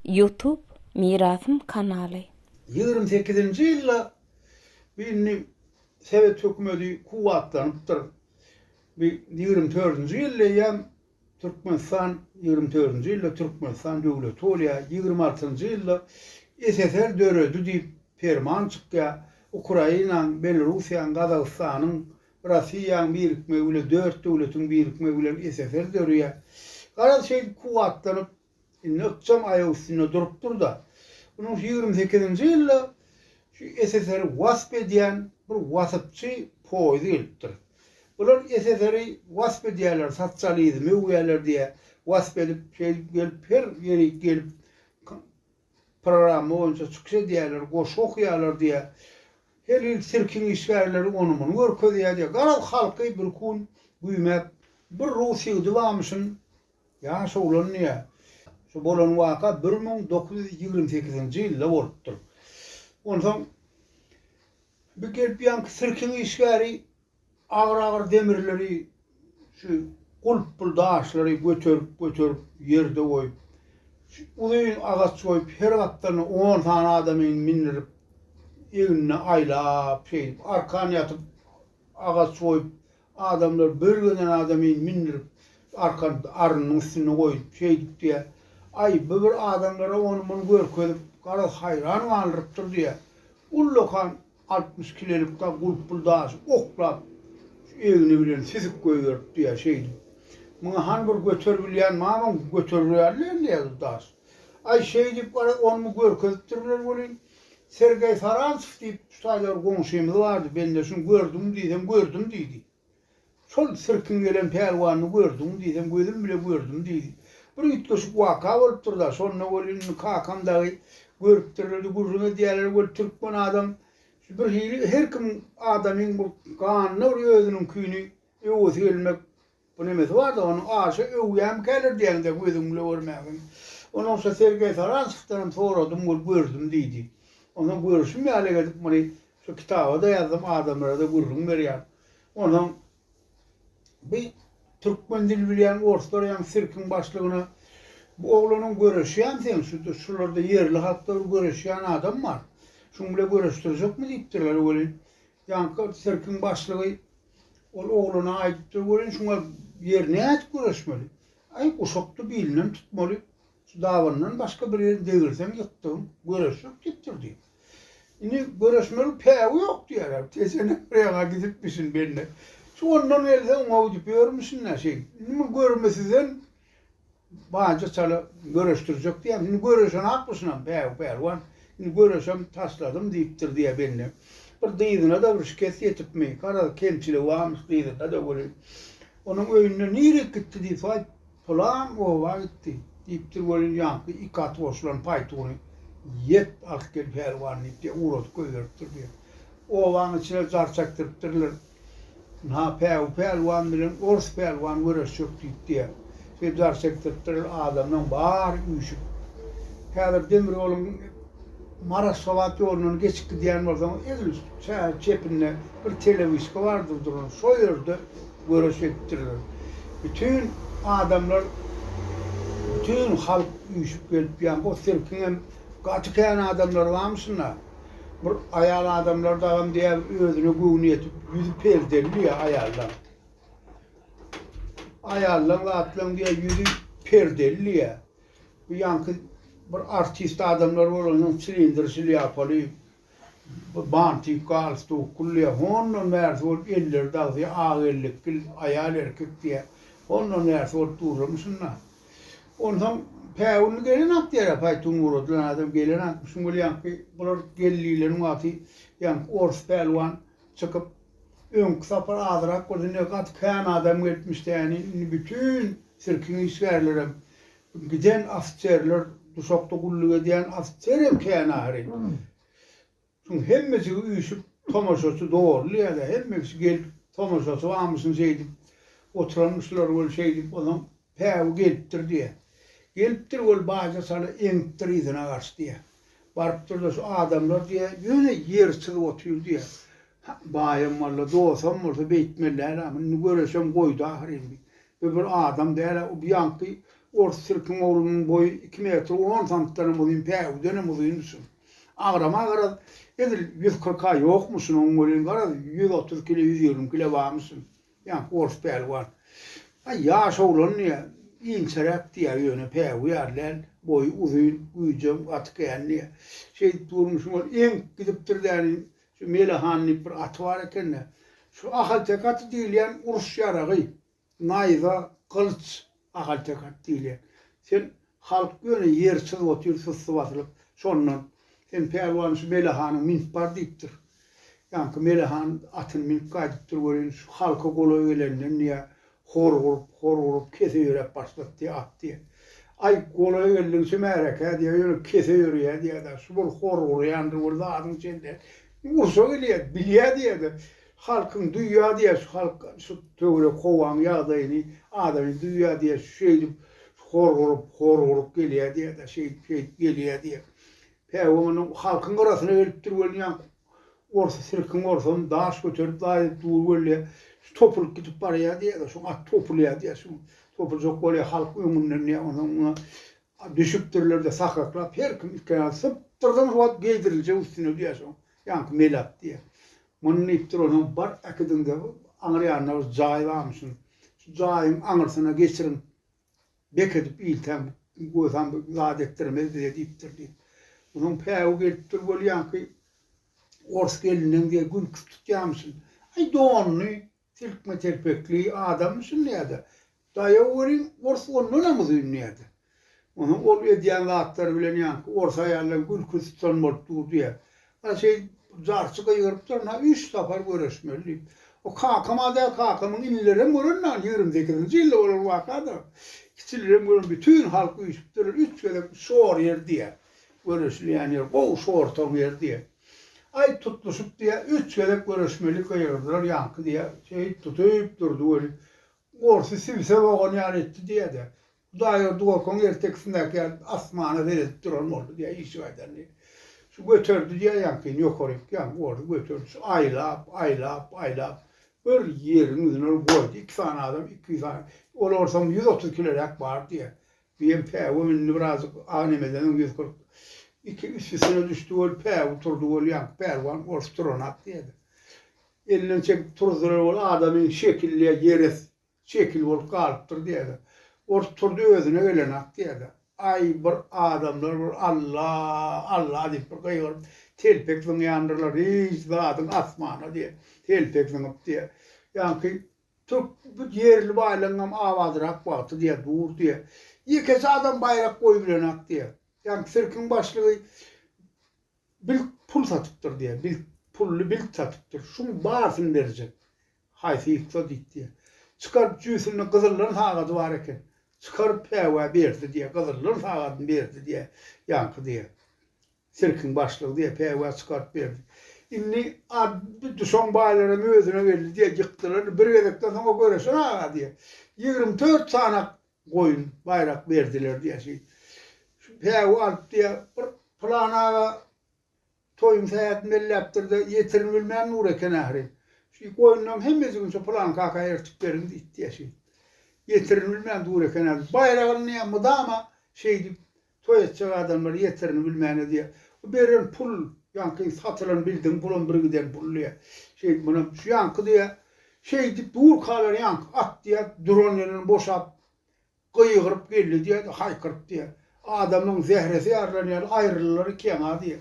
Youtube Mirasym kanaly. Ýigrimi sekizinji ýylda bu indi sowet hökümeti kuwwatlanypdyr. Bu ýigrimi dördünji ýylda eýýäm Türkmenistan ýigrimi dördünji ýylda Türkmenistan döwleti bolýar. Ýigrimi altynjy ýylda SSR döredi diýip perman çykýar. Ukrainaň, Belorussiýaň, Gazagystanyň Russiýaň birikmegi bilen, dört döwletiň birikmegi bilen SSR döreýär. Garaz, şeýdip kuwwatlanyp, indi ykjam aýak üstünde durupdyr-da, munuň şu ýigrimi sekizinji ýylda şu SSR-i wasp edýän bir waspçy poýzy gelipdir. Bular SSR-i wasp edýärler, sosializmi öwýärler diýýär, wasp edip, şeýdip gelip, her ýerik gelip, programma boýunça çykyş edýärler, goşgy okaýarlar diýýä. Her hili sirkiň işgärleri ony-muny görkezýär diýýä. Garaz, halky bir gün güýmäp, bir rus ýigidi barmyşyn, ýaş oglan diýýä. Şu bolan waka bir müň dokuz ýüz ýigrimi sekizinji ýylda bolupdyr. Onsoň bir gelip ýaňky sirkiň işgäri Agyr-agyr demirleri, şu gulpbul daşlary göterip-göterip ýerde goýup, şu uzyn agaç goýup, her gapdalyna on sany adamy mindirip, egnine aýlap, şeýdip, arkan ýatyp, agaç goýup, adamlar bir giden adamy mindirip, arkan arynyň üstünde goýup, şeýdip diýýä. Aý, bu bir adamlara ony-muny görkezip, garaz, haýran galdyrypdyr diýýä. Ullakan Altmyş kilelikda gulply daşy oklap, şu egni bilen süzüp goýberipdi-ä şeýdip. Muňa hany bir göterip bilýän mamam göterip bilýärler diýýä bir daş. Aý, şeýdip, garaz, ony-muny görkezipdirler welin, Sergeý Farantsow diýip, şu taýda bir goňşymyz bardy, Bende şuny gördüňmi diýsem, gördüm diýdi. Şol sirkiň gelen pälwanyny gördüňmi diýsem, gözüm bile gördüm diýdi. Bir üýtgeşik waka bolupdyr-da, şonda weli indi kakam dagy görüpdirledi, gürrüň edýärler, weli türkmen adam şu birhili her kim adamyň bir ganyna bir özüniňkini öwesi gelmek bir nemesi bar-da, ony aşa öwýämikäler diýeňde gözüň bile görmägem. Ondan soň Sergeý Saranskdan hem soradym, weli gördüm diýdi. Onsoň görüşim ýaly edip muny Şu kitaba-da ýazdym, adamlara-da gürrüň berýän. Onsoň bir türkmen dil bilýän orslar ýaňy sirkiň başlygyna Bu oglanyň göreşýän sen, şu şularda ýerli halkda bir göreşýän adam bar. Şuň bile göreşdirjekmi diýipdirler welin. Ýaňky sirkiň başlygy ol oglana aýdypdyr welin şuňa ýer nädip göreşmeli? Aý guşakdy bilinem tutmaly. Şu dabandan başga bir ýerini degirseň ýykdygyn, göreş ýok diýipdir diýip. Indi göreşmegiň pägi ýok diýýärler. Tesenem bir ýaga gidipmişin bende. Şu ondan gelse oňa diýip ýörmüşin-dä şeýdip. Indi muny görme sizden banja çala göreşdirjek diýýär. Indi göreşenakmyşynam pägi pälwan. Indi göreşem taşladym diýipdir diýýär bende. Bir dyzyna-da bir şikes ýetipmi, garaz kemçiligi barmyş dyzynda-da welin. Onuň öýünde nirek gitdi diýip, waý, Pylan oba gitdi, diýipdir welin, ýaňky iki at goşulan paýtuny ýet, alyp gel pälwan diýip, diýe, ugradyp goýberipdir, diýe. Obanyň içine jar çekdiripdirler. Ynha, Päwü pälwan bilen Ors pälwan göreşjek diýip, diýe, şeýdip jar çekdiripdirler, adamlaryň bary üýşüp. Häzir demir ýoluň Maraş-Gabat ýolundan geçip gidýän bolsaňyz, egin üst çäge çepinde bir telewiska bardyr duran, şo ýerde, göreş etdiriler. Bütin adamlar, bütin halk üýşüp gelip ýa o sirkiň hem gaty kän adamlary barmyşynda. Bir aýal adamlar dagam diýýär bir özüne göwni ýetip ýüzi perdeli diýýär aýallaň. Aýallaň zatlaň diýýär ýüzi perdeli diýýär. Bu ýaňky bir artist adamlar bolansoň silindr şlýapaly Bantik, galstuk, kulýa, hondan bärsi bolup elleri dagzy ak ellik bil aýal erkek diýä, hondan bärsi bolup durlamyşyn-da. Onsoň päwünli gelen at ýara paýtun uradylan adam gelen atmyşyn bul ýaňky bular geldilen wagty ýaňky orus pälwan çykyp öňki sapar azyrak bolsa indi gaty kän adam gelipmiş däni indi bütin sirkiň işgärlerem Giden ofiserler, duşakda gulluk edýän ofiser hem kän aýry. Şoň hemmejigi üýşüp, tomaşaçy doldy ýa-da hemmejsi gelip, tomaşaçy barmyşyn şeýdip oturanmyşlar weli şeýdip ozaň päwi gelipdir diýýär. Gelipdir weli baýja sala eňipdir yzyna garşy diýýär. Barypdyr-da şu adamlar diýýär, ýöne ýer çyzyp otyr diýýär. Baýam walla, dosam bolsa beýtmeli däl-ä, indi göreşem goýdy ahyryn diýip. Bu bir adam däl-ä, bu ýaňky ors sirkiň oglunyň boýy iki metr on santdanam uzyn, päwüdenem uzyndy şunuň. Agramy-a garaz, edil ýüz kyrk-a ýokmuş şunuň welin, garaz, ýüz otuz kile, ýüz ýigrimi kile barmyş şunuň, ýaňky ors pälwan. Aý, ýaş oglandy-ä, inçeräkdi-ä, ýöne päwü ýaly däl, boýy uzyn, güýjem gaty kändi-ä. Şeýdip durmuşyň ol eňip gidipdir däniň, Şu Mele han diýip bir aty bar eken-de, şu ahalteke aty diýilýän uruş ýaragy, naýza, gylyç, ahalteke at diýilýän. Sen halk ýöne ýersiz otyr, susy basylyp, şondan sen pälwan şu Mele hanyň münüp bar diýipdir. Ýaňky Mele han atyny münüp gaýdypdyr welin, şu halka golaý gelenden diýýär, Hor urup, hor urup, kese ýöräp başlapdy, atdy. Aý, golaý geldigiçe märekä diýýär, ýöne kese ýörýär diýýär-de, şu bir hor urýandyr bir zadyň içinde. Ursa gelýär, bilýär diýýär-de, halkyň duýýar diýýär, şu halk, şu töwerek howanyň ýagdaýyny, adamyny duýýar diýýär, şeýdip, hor urup, hor urup gelýär diýýär-de, şeýdip, şeýdip gelýär diýýär. Päwim onuň halkyň gyrasynda gelipdir welin ýaňky Orsa sirkin orsan daş göterip daýyp dur gelýär. Şu topulyp gidip barýar diýýärler. Şoň at topulýar diýýär. Şoň topuljak bolýar halk öňünden diýýär. Onsoň muňa düşüpdirler-de sakaklap her kim iki aýagyny sypdyrdan şu at geýdiriljek üstüne diýýär şoň. Ýaňky mele at diýýär. Muny diýipdir onsoň bar äkidiň-de aňyr ýanynda bir jaý barmyşyn. Şu jaýyň aňyrsyna geçiriň. bek edip iltäm, gozam bir zat etdirmez bize diýipdir diýip. Munuň päwi gelip dur bolýanky, ors gelninden diýe gülki tutýamyşyn. Aý, donly, telkme-telpekli adammyşyn diýýä-de, daýaw welin, ors ondanam uzyn diýýä-de. Onuň ol edýän zatlary bilen ýaňky ors aýaldan gülki tutan bolup dur diýýä. Ana şeýdip jarçy gygyrypdyr, Na üç sapar göreşmeli diýip. O kakam-a däl, kakamyň inilerem gören dagy, ýigrimi sekizinji ýylda bolan waka-da. Kiçilerem gören, bütin halk üýşüpdir, üç gezek şor ýer diýýär. Göreşilýän ýer, gowy şortoň ýeri diýýär. Aý tutluşyp diýýär, üç gezek göreşmeli gygyrdylar ýaňky diýýär. Şeýdip tutup durdy weli, gorsy sibisek ogan ýaly etdi diýýär-de. Hudaýberdi gorkan ertekisindäki ýaly asmana seredip duran boldy diýýär, işik aýdandy. Şu göterdi diýýär ýaňkyny, ýokaryk ýaňky boldy, göterdi. Şu aýlap, aýlap, aýlap bir ýeriň ýüzüne ol goýdy. Iki sany adam, iki-üç sany, ol orsam ýüz otuz kiloräk bar diýýär. Diýen päwügem indi birazajyk agnemeden öň ýüz kyrk iki üstesine düşdi ol päwüg turdy ol ýaňky pälwan ors turanak diýýärdi. Elinden çekip turuzdylar ol adamy şekilli ýeres Şekil bolup galypdyr diýýärdi. Ors turdy özüne gelenak diýýärdi. Aý, bir adamlar bir Alla, Alla diýip bir gygyryp, telpek zyňýandyrlar, hiç zadyň asmana diýip, telpek zyňyp diýýär. Ýaňky türk bu ýerli baýlaryňam abadyrak wagty diýýär, dur diýýär. Ýekeje adam baýrak goýup bilenak diýýär. Ýaňky sirkiň başlygy Bilt pul satypdyr diýýär. Bilt pully bilt satypdyr. Şuň barysyny berjek. Haýsy ýyksa diýip diýýär. Çykaryp jüýsünde gyzyllan sagady bar eken. Çykaryp Häwä berdi diýýär. Gyzyllan sagadyny berdi diýýär. Ýaňky diýýär. Sirkiň başlygy diýýär. Häwä çykaryp berdi. Indi ad-by düşen baýlaram özüne geldi diýýär. Ýykdylar. Bir gezekden soň o göreşen aga diýýär. Ýigrimi dört sany Goýun, baýrak berdiler diýýär şeý. Şu päwi alyp diýýär, bir pylan aga toýuň sähetini belläpdir-de, ýetirini bilmän dur eken ahyry. Şeý goýunlaryň hemmejigini şu pylan kaka ertip beriň diýipdi-ýä şeý. Ýetirini bilmän dur eken ahyry. Baýragyny mydama şeýdip Toý etjek adamlar ýeterini bilmän ödýär. Bu beren pul, ýaňky satylan bildiň pulam bir giden pul diýýär. Şeýdip munam şu ýaňky diýýär. Şeýdip durkalar ýaňky at diýýär, duran ýerinden boşap gygyryp geldi diýýär-de, haýkyryp diýýär. Adamyň zähresi ýarylan ýaly aýryldylar ikä-ha diýýär.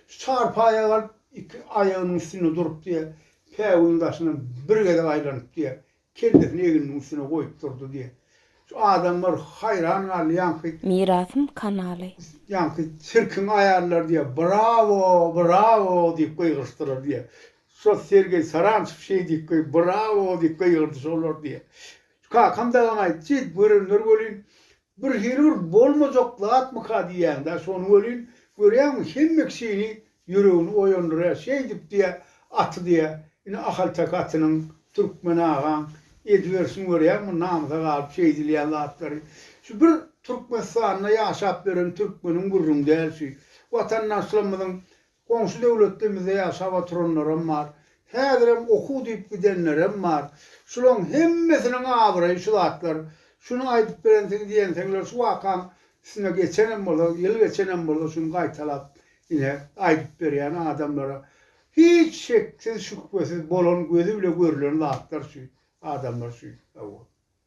Şu çarpaýa galyp iki aýagynyň üstünde durup diýýär, päwügiň daşyndan bir gezek aýlanyp diýýär. Kellesini egniniň üstüne goýup durdy diýe. Şu adamlar haýran galdy ýaňky. Mirasym kanaly. Ýaňky sirkiň aýallary diýe brawo, brawo diýip gygyryşdylar diýe. Şo Sergeý Sarançew şeý diýip gygy brawo diýip gygyrdy şolar diýe. Kakam dagam aýtdy, görenler welin Bir hirurg bolmajak zatmyka diýýäňdä şony welin, görýäňmi, hemme kişini ýüregini oýandyrýar, şeýdip diýýä, aty diýýä, ine ahalteke atynyň, türkmen agaň ediberişini görýäňmi, namysa galyp şeýdilýän zatlary. Şu bir Türkmenistanda ýaşap ýören türkmeniň gürrüňi däl şu. Watandaşlarymyzyň Goňşy döwletde bize ýaşap oturanlaram bar. Häzirem okuw diýip gidenlerem bar. Şulaň hemmesiniň abraýy şu zatlar. Şuny aýdyp berensiňiz ýenseňler şu wakaň üstüne geçenem bolsa, ýyl geçenem bolsa şuny gaýtalap ine aýdyp berýän adamlara. Hiç şeksiz şübhesiz bolan gözi bile görülen zatlar şu adamlar şu hawa.